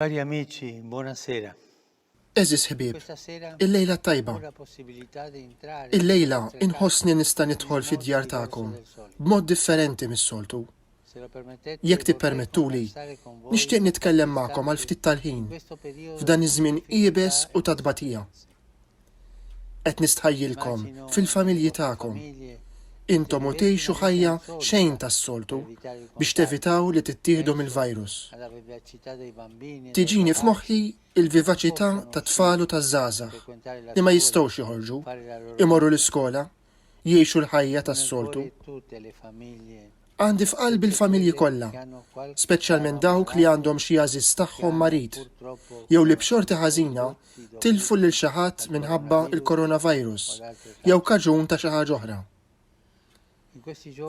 Cari amici, buonasera. Eżis ħbieb, il-lejla tajba. Il-lejla inħossni nista' nidħol fid-djar tagħkom b'mod differenti mis-soltu. Jekk tippermettuli, nixtieq nitkellem magħkom għal ftit tal-ħin f'dan iż-żmien iebes u ta' tbatija. Qed nistħajjilkom fil-familji tagħkom. Intom u tgħixu ħajja xejn tas-soltu biex tevitaw li tittieħdu mill-virus. Tiġini f'moħħi il-vivaċità tat-tfal u taż-żgħażagħ li ma jistgħux joħorġu, imorru l-iskola jgħixu l-ħajja tas-soltu. Għandi f'qalbi l-familji kollha, speċjalment dawk li għandhom xi għażiż tagħhom marid, jew li b'xorti ħażina tilfu lil xi ħadd minħabba l-coronavirus jew kaġun ta' xi ħaġa oħra.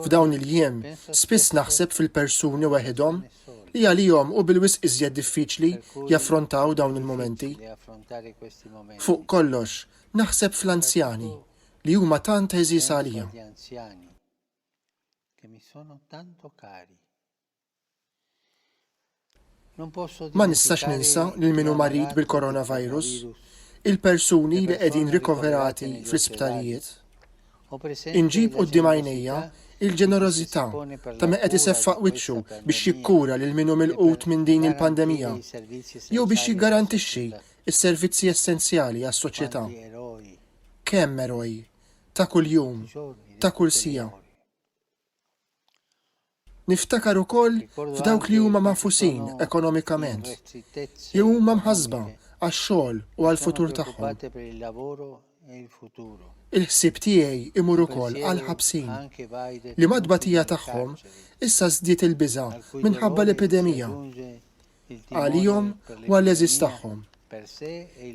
F'dawn il-jiem, spiss naħseb fil-persuni weħidhom li għalihom u bil-wisq iżjed diffiċli jaffrontaw dawn il-momenti. Fuq kollox, naħseb fl-anzjani. li huma tant għeżież għalija. Ma nistax ninsa lil min hu marid bil-coronavirus, il-persuni li qegħdin rikoverati fl-isptarijiet. Inġib quddiem għajnejja l-ġenerożità ta' min qed iseffaq wiċċu biex jikkura lil min hu milqut minn din il-pandemija jew biex jiggarantixxi s-servizzi essenzjali għas-soċjetà. kemm eroj, ta' kuljum, ta' kull siegħa. Niftakar ukoll f'dawk li huma magħfusin ekonomikament, jew huma mħassba għax-xogħol u għall-futur tagħhom. Il-ħsieb tiegħi jmur ukoll għall-ħabsin, li mat-tbatija tagħhom issa żdied il-biża' minħabba l-epidemija. għalihom u għall-għeżież tagħhom.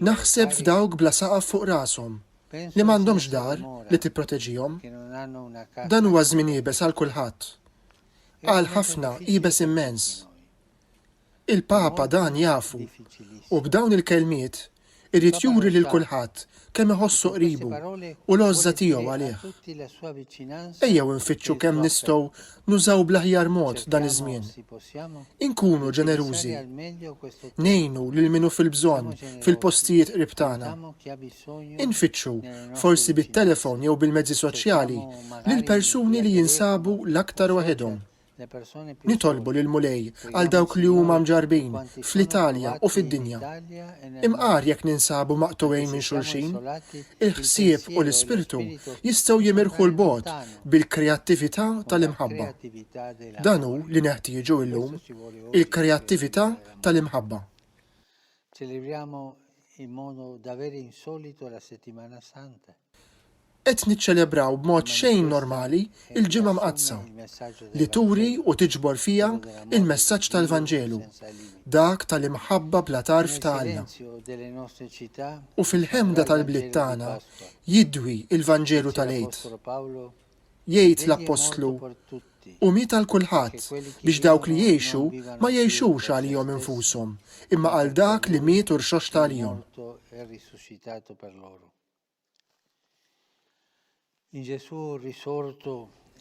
Naħseb f'dawk bla saqaf fuq rashom, li m'għandhomx dar li tipproteġihom. Dan huwa żmien iebes għal kulħadd. Għal ħafna iebes immens. Il-Papa dan jafu u b'dawn il-kelmiet Irid juri lil kulħadd kemm iħossu qribu u l-għożża tiegħu għalih. Ejjew infittxu kemm nistgħu nużaw bl-aħjar mod dan iż-żmien. Inkunu ġenerużi. Ngħinu lil min hu fil-bżonn fil-postijiet qrib tagħna. Infittxu, forsi bit-telefon jew bil-mezzi soċjali, lill-persuni li jinsabu l-aktar waħedhom. Nitolbu lill-Mulej għal dawk li huma mġarrbin fl-Italja u fid-dinja. Imqar jekk ninsabu maqtugħin minn xulxin, il-ħsieb u l-ispirtu jistgħu jimirħu 'l bogħod bil-kreattività tal-imħabba. Dan hu li neħtieġu llum, il-kreattività tal-imħabba. Qed niċċelebraw b'mod xejn normali l-Ġimgħa Mqaddsa, li turi u tiġbor fiha l-messaġġ tal-Vanġelu, dak tal-imħabba bla tarf ta' Alla. U fil-ħemda tal-bliet tagħna jidwi l-Vanġelu tal-Għid. Jgħid l-Appostlu, Qum hi tal kulħadd, biex dawk li jgħixu ma jgħixux għalihom infushom, imma għal dak li miet u rxoxta għalihom.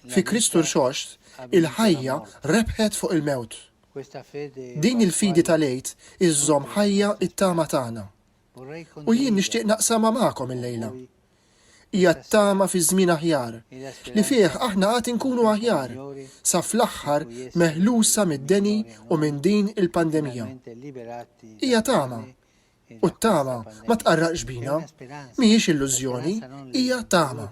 Fi Kristu Rxoxt, il-ħajja rebħet fuq il-mewt. Din il-fidi tal-Għid iżżomm ħajja t-tama tagħna. U jien nixtieq naqsamha magħkom illejla. Hija t-tama fi żmien aħjar, li fih aħna għad inkunu aħjar, sa fl-aħħar meħlusa mid-deni u minn din il-pandemija. Hija tama U t-tama ma tqarraqx bina. Mhijiex illużjoni, hija tama.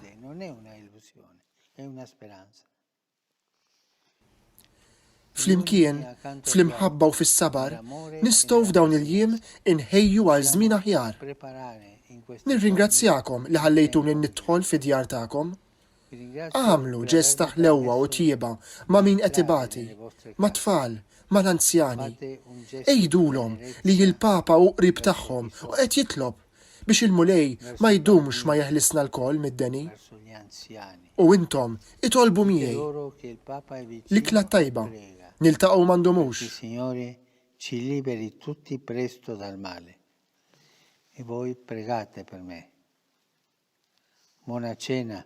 Flimkien, fl-imħabba u fis-sabar, nistgħu f'dawn il-jiem inħejju għal żmien aħjar. Nirringrazzjakom li ħallejtuni nidħol fid-djar tagħkom. Agħmlu ġest ta' ħlewwa u tjieba ma' min qed ibati, mat-tfal, mal-anzjani. Għidulhom li l-Papa hu qrib tagħhom u qed jitlob biex il-Mulej ma jdumx ma jeħlisna lkoll mid-deni. U intom itolbu miegħi. L-ikla t-tajba. Niltaqgħu ma ndumux. Mona Cena,